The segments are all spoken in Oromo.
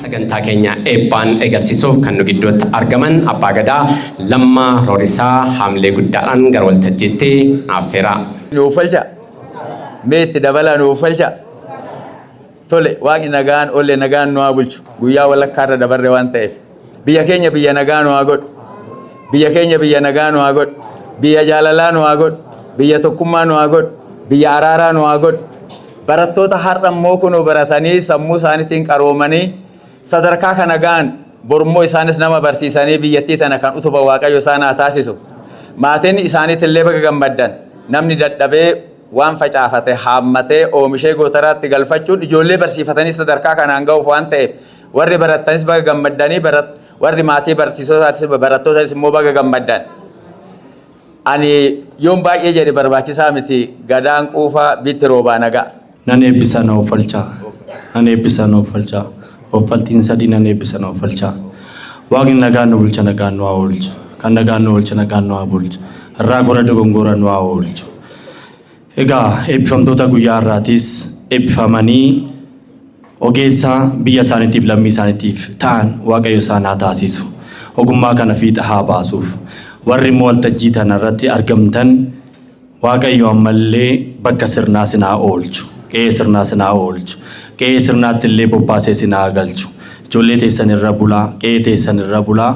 Sagantaa keenya eebbaan eegalsiisuuf kan nu gidduutti argaman Abbaa Gadaa Lammaa Roorisaa haamilee guddaadhaan gara waltajjiitti affeeraa. Nuuf falcha. Mee itti dabalaa nuuf falcha. Tole waaqni nagaan olle nagaan nu haa bulchu. Guyyaa walakkaa irra dabarre waan ta'eef. Biyya keenya biyya nagaa nu haa godhu. Biyya keenya biyya nagaa nu haa godhu. Biyya jaalalaa nu haa godhu. Biyya tokkummaa nu haa godhu. Biyya araaraa nu haa godhu. Barattoota har'a immoo kunoo baratanii sammuu isaaniitiin qaroomanii sadarkaa kana ga'an bor immoo isaanis nama barsiisanii biyyattii tana kan utuban Waaqayyo isaan haa taasisu. Maatiin isaaniitillee baga gammaddan. Namni dadhabee waan facaafate haammatee oomishee gootaraatti galfachuun ijoollee barsiifatanii sadarkaa kanaan ga'uuf waan ta'eef warri barattanis baga gammaddanii warri maatii barsiisotaatiis barattootaanis immoo baga gammaddan. Ani yoon baay'ee jedhe barbaachisaa miti Gadaan quufaa bitti roobaa nagaa. Nan eebbisa na offalchaa Nan eebbisa na offalchaa Offaltiin sadii nan eebbisa na offalchaa Waaqni nagaan nu bulcha nagaan nu haa oolchu Kan nagaan nu oolche nagaan nu haa bulchu Irraa gora dogongoora nu haa oolchu Egaa eebbifamtoota guyyaa har'aatiis eebbifamanii ogeessa biyya isaaniitiif lammii isaaniitiif ta'an Waaqayyo isaan haa taasisu. Ogummaa kana fiixa haa baasuuf. Warri immoo waltajjii tana irratti argamtan Waaqayyo ammallee bakka sirnaa isin haa oolchu. Qe'ee sirnaa isin haa oolchu. Qe'ee sirnaatti illee bobbaasee isin haa galchu. Ijoollee teessan irra bulaa, qe'ee teessan irra bulaa.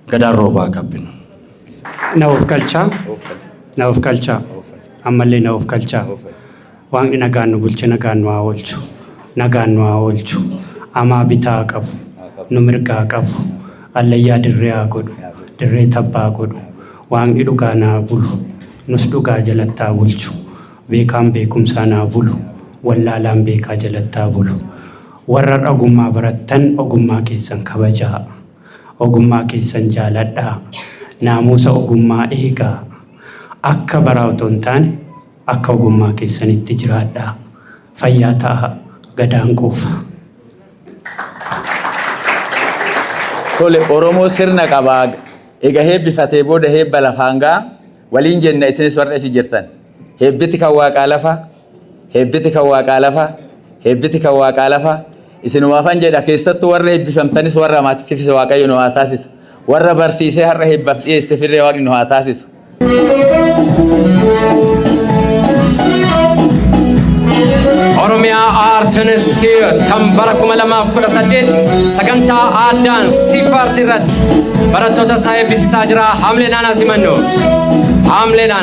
Gadaa Roobaa Gabbina. Na of kalchaa. Na of kalchaa. Ammallee na of kalchaa. Waaqni nagaan nu bulche nagaan nu haa oolchu. Nagaan nu haa oolchu. Amaa bitaa haa qabu. Nu mirga haa qabu. Allayyaa dirree haa godhu. Dirree tabbaa haa godhu. Waaqni dhugaa na haa bulu. Nus dhugaa jalatti haa bulchu. Beekaan beekumsaan haa bulu. Wallaalaan beekaa jalatti haa bulu. Warra ogummaa barattan ogummaa keessan kabajaa. Ogummaa keessan jaaladhaa. Naamuusa ogummaa eegaa. Akka baraa otoo hin taane akka ogummaa keessanitti jiraadhaa. Fayyaa ta'aa. Gadaan quufa. Tole Oromoo sirna qaba. Ega heebbifatee booda heebba lafaan ga'a. Waliin jenna isinis warri achi jirtan. Heebbiti kan waaqaa lafa. Heebbiti kan Waaqaa lafa, heebbiti kan Waaqaa lafa, isinumaafan jedha, keessattuu warra eebbifamtanis warra maatichifis Waaqayyo nu haa taasisu. Warra barsiisee har'a heebbaf dhiyeessefillee Waaqni nu haa taasisu. Oromiyaa Art Institute kan bara 2018 sagantaa aadaan siifaartii irratti barattoota isaa eebbisiisaa jira. Haamlee naanaa simannu. Haamlee naanaa.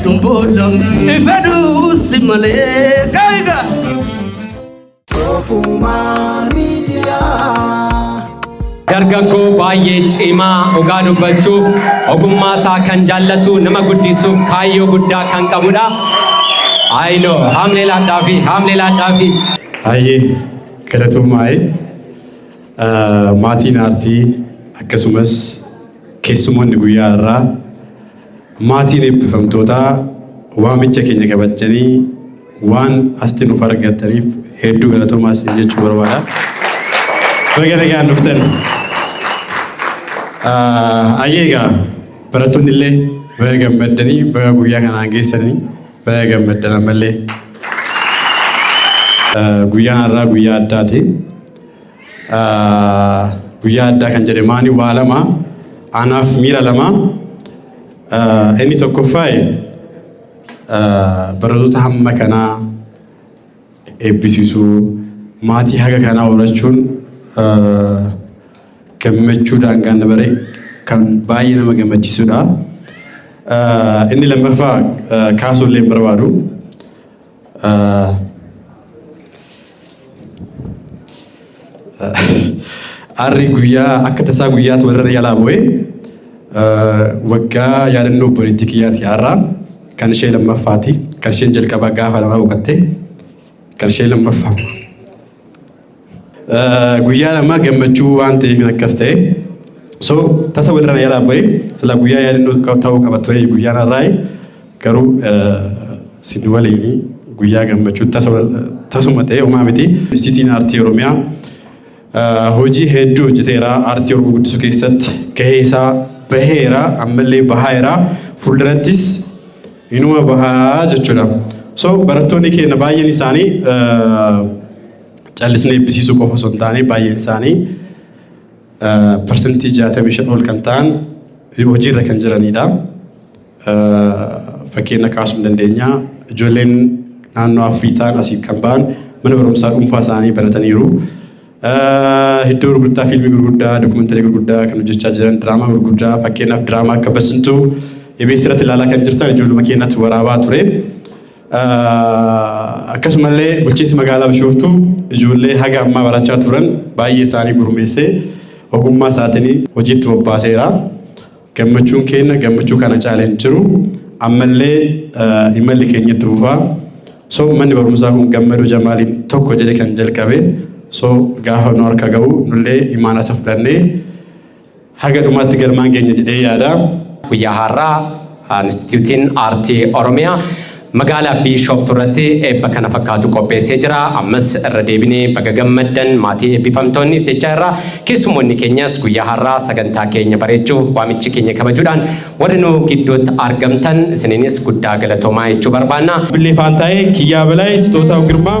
Boolla ifaduu si malee gaayiga. Ofumaa miidiyaa. Dargaggoo baay'ee cimaa dhugaa dubbachuuf ogummaa isaa kan jaallatu nama guddisuuf kaayyoo guddaa kan qabudha. Ayino haamlee laadhaa fi haamlee laadhaa fi. Baay'ee galatoomaaye maatiin aartii akkasumas keessumoonni guyyaa irraa Maatiin eebbifamtootaa waamicha keenya kabajjanii waan asti nuuf argattaniif hedduu galatoomaa isin jechuu barbaada. Baga nagaan dhuftan. Ayyee egaa barattoonni illee baga gammaddanii baga guyyaa kanaan geessanii baga gammaddan ammallee. Guyyaan har'aa guyyaa addaati. Guyyaa addaa kan jedhe maani waa lama anaaf miira lama inni tokkoffaaye barattoota hamma kanaa eebbisiisuu maatii haga kanaa horachuun gammachuu daangaan dabaree kan baay'ee nama gammachiisudha. Inni lammaffaa kaasuu illee barbaadu. Arri guyyaa akka tasaa guyyaatu warra yalaa bu'e waggaa yaadannoo obboleettii kiyyaati har'aa kan ishee lammaffaati kan isheen jalqabaa gaafa lamaa boqattee kan ishee lammaffaa Guyyaan ammaa gammachuu waan ta'eef akkas ta'e. So tasa walirra na jalaa ba'e sila guyyaa yaadannoo ta'uu qaba ture guyyaan har'aa garuu sin waliin guyyaa gammachuu tasuma ta'e homaa miti. Institiyuutiin Aartii Oromiyaa hojii hedduu hojjeteera aartii Oromoo guddisuu keessatti gahee isaa baheera ammallee bahaera fuuldurattis inuma bahaa jechuudha. So barattoonni keenya baay'een isaanii callisnee eebbisiisuu qofa osoo hin taane baay'een isaanii parsantii 65 ol kan ta'an hojiirra kan jiranidha. Fakkeenya kaasuu dandeenya. Ijoolleen naannoo Afurii ta'an asiif kan ba'an mana barumsaa dhuunfaa isaanii banataniiru. Iddoo gurgurtaa fiilmii gurguddaa, dookumantarii gurguddaa kan hojjechaa jiran, diraamaa gurguddaa fakkeenyaaf diraamaa akka Basintuu EBS irratti ilaalaa kan jirtan ijoolluma keenyatti waraabaa ture. Akkasumallee bulchiinsi magaalaa Bishooftuu ijoollee haga ammaa barachaa turan baay'ee isaanii gurmeessee ogummaa isaatiin hojiitti bobbaaseera. Gammachuun keenya gammachuu kana caalee hin jiru. Ammallee imalli keenya itti fufaa. So manni barumsaa kun gammadoo jamaaliin tokko jedhe kan jalqabe. So gaafa nu harka ga'u nullee imaanaa isa fudhannee Haga dhumaatti galmaan geenya jedhee yaada. Guyyaa har'aa Institiyuutiin Aartii Oromiyaa Magaalaa Biishooftuu irratti eebba kana fakkaatu qopheessee jira. Ammas irra deebinee baga gammaddan maatii eebbifamtoonnis jechaa irra keessummoonni keenyas guyyaa har'aa sagantaa keenya bareechuuf waamichi keenya kabajuudhaan warri nu gidduutti argamtan isiniinis guddaa galatoomaa jechuu barbaanna. Billee Faantaayee, Kiyyaa Balaay, Sitootaw Girmaa.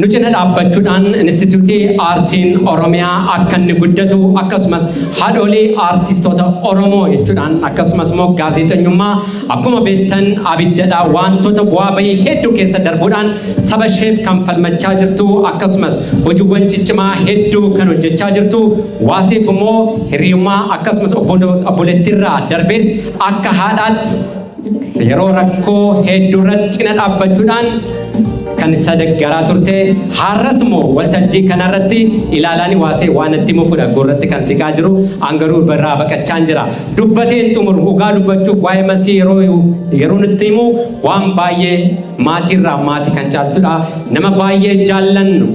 nu cina dhaabbachuudhaan Inistitiyuutii Aartiin Oromiyaa akka inni guddatu akkasumas haadhoolii aartistoota Oromoo jechuudhaan akkasumas immoo gaazexenyummaa akkuma beektan abiddadha wantoota bu'aa bahii hedduu keessa darbuudhaan saba isheef kan falmachaa jirtu akkasumas hojiiwwan ciccimaa hedduu kan hojjechaa jirtu waasiif immoo hiriyummaa akkasumas obboleettiirraa darbees akka haadhaatti Yeroo rakkoo hedduurratti cina dhaabbachuudhaan kan isa deggaraa turte har'as immoo waltajjii kanarratti ilaalaan waasee waan itti mufudha gurratti kan siqaa jiru an garuu irraa baqachaan jira dubbateen xumuru dhugaa dubbachuuf waa'ee masii yeroo yeroo nutti himu waan baay'ee maatiirraa maatii kan caaltudha nama baay'ee jaallannu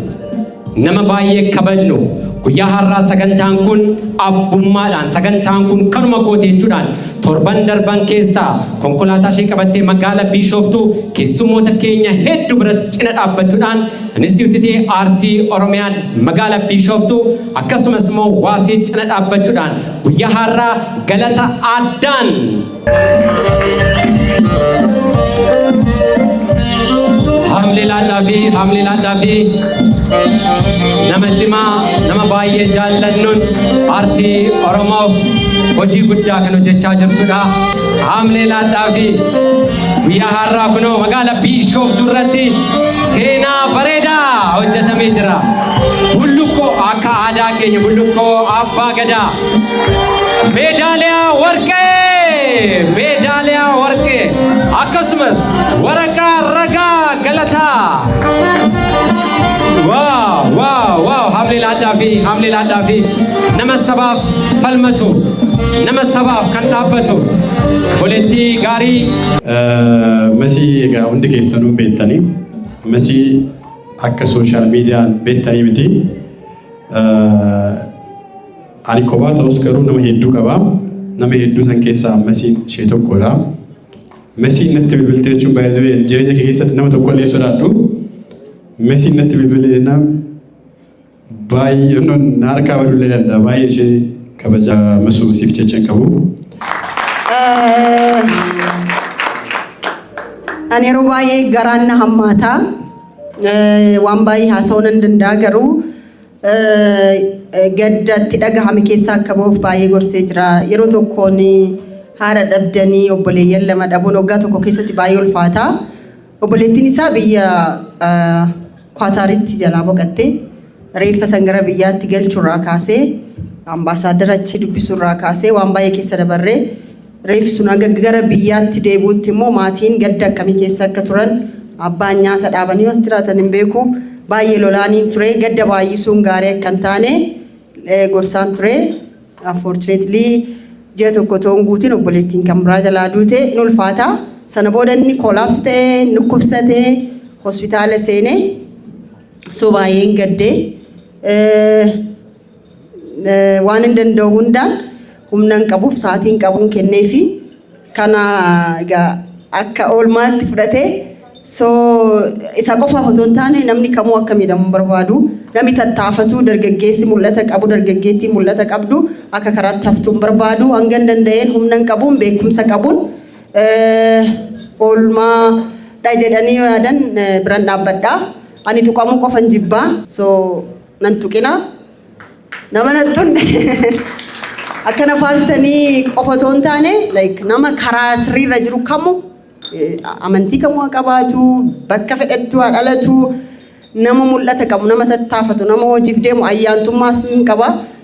Nama baay'ee kabajnu guyyaa har'aa sagantaan kun abbummaadhaan sagantaan kun kanuma kooti jechuudhaan torban darban keessaa konkolaataa ishee qabattee magaala Biishooftuu keessummoota keenya hedduu biratti cina dhaabbachuudhaan Inistiitiyuutii Aartii Oromiyaan magaala Biishooftuu akkasumas immoo Waasee cina dhaabbachuudhaan guyyaa har'aa galata addaan Haamlee laadhaa fi haamlee laadhaa fi nama cimaa nama baay'ee jaallannuun aartii Oromoof hojii guddaa kan hojjechaa jirtudha. Haamlee laadhaa fi guyyaa har'aa kunoo magaala Biishooftuu irratti seenaa bareedaa hojjetamee jira. Bullukkoo akka aadaa keenya bullukkoo abbaa gadaa. meedaaliyaa warqee meedaaliyaa warqee akkasumas waraqaa ragaa galataa waaw waaw waaw hamlee laadhaa fi hamlee laadhaa fi nama sabaaf falmatu nama sabaaf kan dhaabbatu boleettii gaarii Masii egaa hundi keessanuu beektanii masii akka sooshaal miidiyaan beektanii miti Ani kophaa ta'us garuu nama hedduu qaba. Nama hedduu san keessaa Mesiin ishee tokkodha. Mesiin natti bilbilte jechuun baay'ee jireenya kee keessatti nama tokko illee sodaadhu. Mesiin natti bilbilte jennaan baay'ee na harkaa baduu illee danda'a. Baay'ee ishee kabaja masuu siif jecha hin qabu. Ani yeroo baay'ee garaan na hammaataa. Waan baay'ee haasa'uu nan danda'a garuu gadda itti dhagahame keessaa akka ba'uuf baay'ee gorsee jira. Yeroo tokkoon haadha dhabdanii obboleeyyan lama dhabuun waggaa tokko keessatti baay'ee ulfaata. Obboleettiin isaa biyya Kwaataaritti jalaa boqatte. Reeffa san gara biyyaatti galchurraa kaasee ambaasaaddara achi dubbisurraa kaasee waan baay'ee keessa dabarree Reeffi sun hanga gara biyyaatti deebi'utti immoo maatiin gadda akkamii keessa akka turan, abbaan nyaata dhaabanii as jiraatan hin beeku. Baay'ee lolaaniin ture. Gadda baay'isuun gaarii akka hin taane gorsaan ture. Unfortunately ji'a tokko otoo hin guutin obboleettiin kan biraa jalaa duute hin ulfaata. Sana booda inni koolaapsi ta'e, dhukkubsate, hospitaala seene. So baay'een gadde. waan hin danda'u hundaan humna hin qabuuf sa'aatii hin qabuun kennee fi kana egaa akka oolmaatti fudhatee soo isa qofaaf otoo hin taane namni kamuu akka miidhamu hin barbaadu namni tattaafatuu dargaggeessi mul'ata qabu dargaggeettiin mul'ata qabdu akka karaatti haftuu hin barbaadu hanga hin danda'een humna hin qabuun beekumsa qabuun eh, oolmaa dha jedhanii yaadan eh, biran dhaabbadha ani tuqamuu qofan jibbaa so nan tuqina. Nama nan tunne akkana faarsanii qofa otoo hin taane like nama karaa sirriirra jiru kamu eh, amantii kamu haa qabaatu bakka fedhettu haa dhalatu nama mul'ata qabu nama tattaafatu nama hojiif deemu ayyaantummaas hin qaba.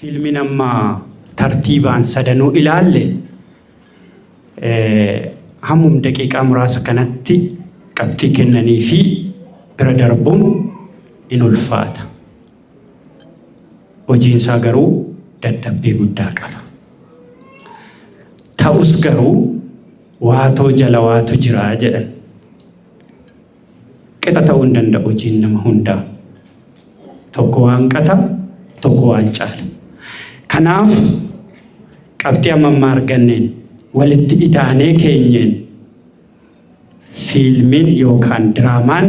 Fiilmiin amma tartiibaan sadanuu ilaalle hammum daqiiqaa muraasa kanatti qabxii kennanii fi bira darbuun in ulfaata. Hojiin isaa garuu dadhabbii guddaa qaba. Ta'us garuu waatoo jala waatu jira jedhan. Qixa ta'uu hin danda'u hojiin nama hundaa. Tokko waan qata, tokko waan caala. Kanaaf qabxii amma ammaa arganneen walitti idaanee keenyeen fiilmiin yookaan diraamaan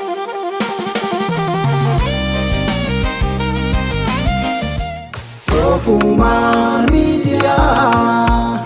Soofummaan miidiyaa.